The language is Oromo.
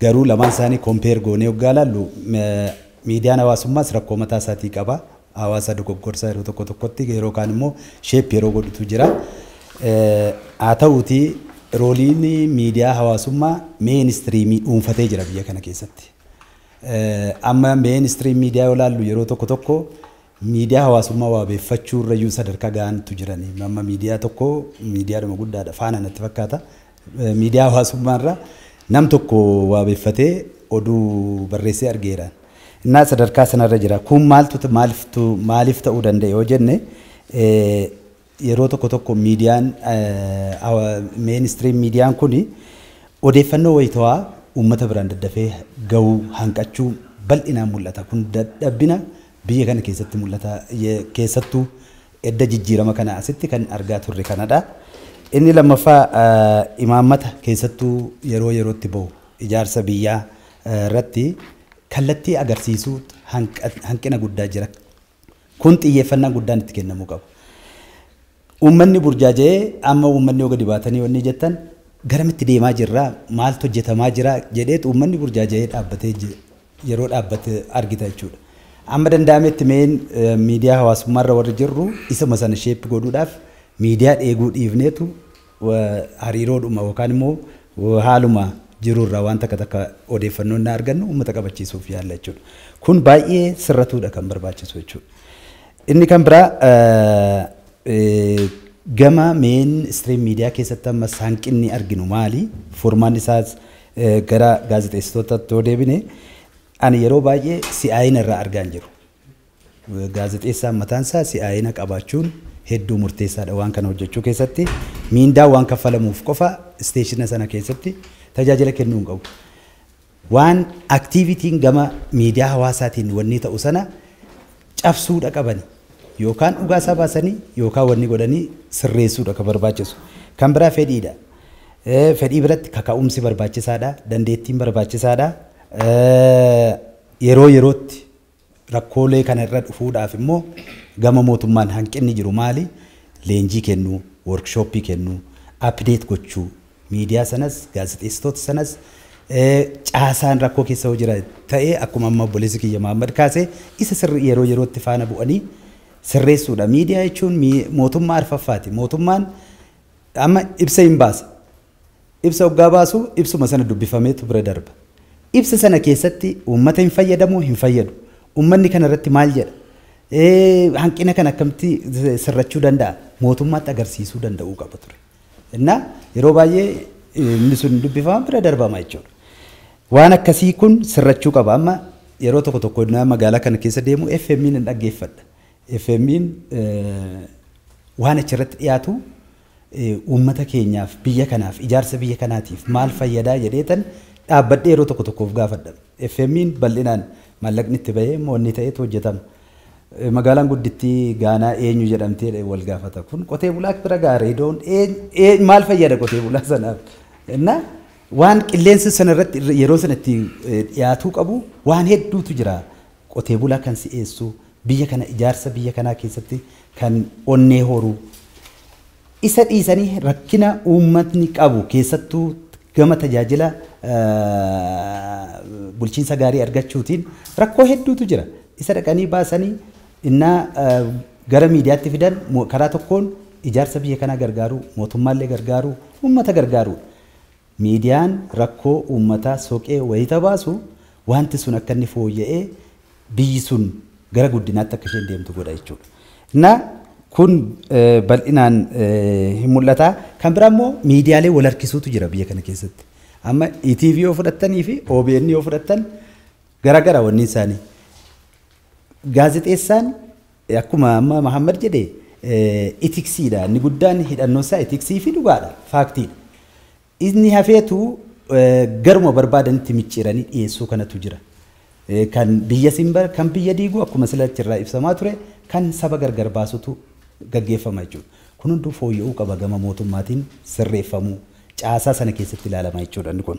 Garuu lamaan isaanii compare goonee hoggaa ilaallu miidiyaan hawaasummaas rakkoo mataa isaatii qaba. Hawaasa dogoggorsa yeroo tokko tokkotti yeroo kaan immoo shape yeroo godhutu jira. Haa ta'uutii rooliin miidiyaa hawaasummaa mainstream dhuunfatee jira biyya kana keessatti. Amma mainstream miidiyaa yoo ilaallu yeroo tokko tokko Miidiyaa hawaasummaa waabeeffachuurrayyuu sadarkaa gahantu jirani. Amma miidiyaa tokko miidiyaadhuma guddaadha faana natti fakkaata. Miidiyaa hawaasummaarra nam tokko waabeeffatee oduu barreessee argeera. Innaa sadarkaa sanarra jira. Kun maaltu maaliftu maaliif ta'uu danda'e yoo jenne Yeroo tokko tokko miidiyaan main stream miidiyaan kun odeeffannoo wayitawaa uummata biraan daddafee gahuu hanqachuu bal'inaan mul'ata. Kun dadhabbina biyya kana keessatti mul'ata. Keessattuu edda jijjiirama kanaa asitti kan argaa turre kanadha. Inni lammaffaa imaammata keessattuu yeroo yerootti bahu ijaarsa biyyaa irratti kallattii agarsiisuu hanqina guddaa jira. Kun xiyyeeffannaan guddaan itti kennamuu qaba. Uummanni burjaaja'ee amma uummanni yoo gadi baatanii wanni jettan garamitti deemaa jirra, maaltu hojjetamaa jira jedheetu uummanni burjaaja'ee dhaabbatee je- yeroo dhaabbate argita jechuudha. Amma danda'ametti meen eh, miidiyaa hawaasummaarra warri jirru isuma sana sheeppi godhuudhaaf miidiyaa dheeguu dhiifneetu hariiroodhuma yookaan immoo haaluma jiru irraa waan takka takka odeeffannoo innaa argannu uummata qabachiisuuf yaalla jechuudha. Kun baay'ee sirratuudha kan barbaachisu jechuudha. Inni kan biraa gama meen istiriim miidiyaa keessatti ammas hanqinni arginu maali? Furmaanni isaas gara gaazexeessitootatti yoo deebine ani yeroo baay'ee si'aayina irraa argaa hin jiru. Gaazexeessaan mataan isaa si'aayina qabaachuun hedduu murteessaa dha. Waan kana hojjechuu keessatti miindaa waan kaffalamuuf qofa isteeshina sana keessatti tajaajila kennuu hin qabu. Waan aktiivitiin gama miidiyaa hawaasaatiin wannii ta'u sana cabsuudha qabani. Yookaan dhugaa isaa baasanii yookaan wanni godhanii sirreessuudha kan barbaachisu. Kan biraa fedhiidha. Eh, Fedhii biratti kaka'umsi barbaachisaadha, dandeettiin barbaachisaadha. Eh, Yeroo yerootti Rakkoolee kana irra dhufuudhaaf immoo gama mootummaan hanqinni jiru maali? Leenjii kennuu, workshop kennuu, update gochuu, miidiyaa sanas, gaazexeessitoota sanas, caasaan rakkoo keessa yoo jira ta'e akkuma amma obboleessi kiyya Mahaammad kaase isa sirri yeroo yerootti faana bu'anii sirreessuudha. Miidiyaa jechuun mootummaa arfaffaati. Mootummaan amma ibsa hin baasa. Ibsa oggaa baasu ibsuma sana dubbifameetu bira darba. Ibsa sana keessatti uummata hin fayyadamoo hin fayyadu? Uummanni kana irratti maal jedha? Hanqina kana akkamitti sirrachuu danda'a? Mootummaatti agarsiisuu danda'uu qaba ture. Innaa yeroo baay'ee inni sun hin dubbifama bira darbama jechuudha. Waan akkasii kun sirrachuu qaba. Amma yeroo tokko tokko innaa magaalaa kana keessa deemu FM'n hin dhaggeeffadha. FM'n waan achirratti dhiyaatu uummata keenyaaf, biyya kanaaf, ijaarsa biyya kanaatiif maal fayyada jedheetan dhaabbadhee yeroo tokko tokko of gaafadha. FMIn bal'inaan maallaqni itti ba'ee moo inni ta'etu hojjetama. Magaalaan guddittii Gaanaa eenyu jedhamti jedhee wal gaafata. Kun qotee bulaa bira ga'a reedoon maal fayyada qotee bulaa sanaaf. Innaa waan qilleensa sana irratti yeroo sana itti dhiyaatuu qabu waan hedduutu jira. Qotee bulaa kan si'eessu, biyya kana ijaarsa biyya kanaa keessatti kan onnee horu, isa dhiisanii rakkina uummatni qabu keessattuu gama tajaajila bulchiinsa gaarii argachuutiin rakkoo hedduutu jira. Isa dhaqanii baasanii innaa gara miidiyaatti fidan karaa tokkoon ijaarsa biyya kanaa gargaaruu, mootummaallee gargaaruu, uummata gargaaruudha. Miidiyaan rakkoo uummataa soqee wayita baasu waanti sun akka inni fooyya'ee biyyi sun gara guddinaatti akka isheen deemtu godha jechuudha. Na kun bal'inaan hin mul'ata. Kan biraa immoo miidiyaalee wal harkisuutu jira biyya kana keessatti. Amma ETV yoo fudhattanii fi OBN yoo fudhattan garagara wanni isaanii. Gaazexeessaan Akkuma amma Mahaammad jedhe itiksiidha inni guddaan hidhannoon isaa itiksii fi dhugaadha, faaktiidha. Inni hafeetu garuma barbaadanitti micciiranii dhiyeessuu kanatu jira. Kan biyya simbar, kan biyya diigu akkuma sila achirraa ibsamaa ture kan saba gargar baasutu gaggeeffama jechuudha. Kun hunduu fooyya'uu qaba gama mootummaatiin sirreeffamuu. caasaa sana keessatti ilaalama jechuudha inni kun.